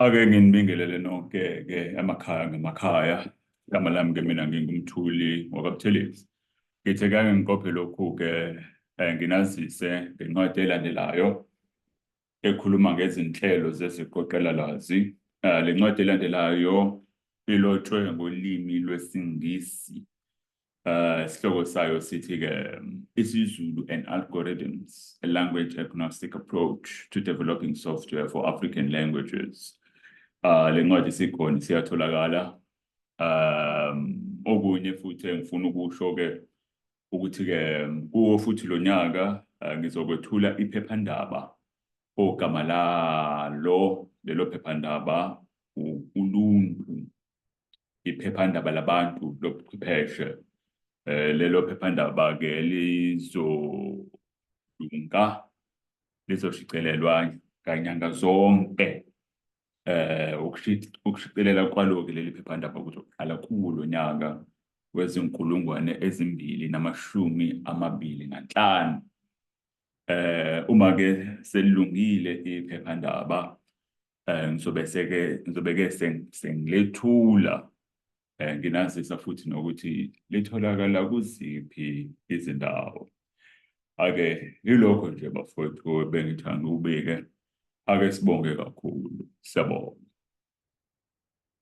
Ake nginibingelele nonke-ke emakhaya ngemakhaya. Igama lami-ke mina nginguMthuli wakwaButhelezi. Ngithe kake ngiqophe lokhu-ke um nginazise ngencwadi elandelayo ekhuluma ngezinhlelo zeziqoqelalwazi. Um le ncwadi elandelayo ilotshwe ngolimi lwesiNgisi. Uh, isihloko sayo sithi-ke isiZulu and algorithms, a language agnostic approach to developing software for African languages. Uh, le ncwadi sikhona siyatholakala. Um, okunye futhi engifuna ukusho-ke ukuthi-ke kuwo futhi lo nyaka uh, ngizokwethula iphephandaba ogama lalo lelo phephandaba uluntu iphephandaba labantu lobuchwepheshe eh lelo phephandaba-ke lizolunga lizoshicelelwa kanyanga zonke eh ukushicelela kwalo-ke leli phephandaba kuzoqala kulo nyaka wezinkulungwane ezimbili namashumi amabili nanhlanu eh uma ke selilungile iphephandaba eh ngizobe seke ngizobe ke sengilethula eh nginazisa futhi nokuthi litholakala kuziphi izindawo ake yilokho nje bafowethu bengithanda ubike ake sibonge kakhulu siyabonga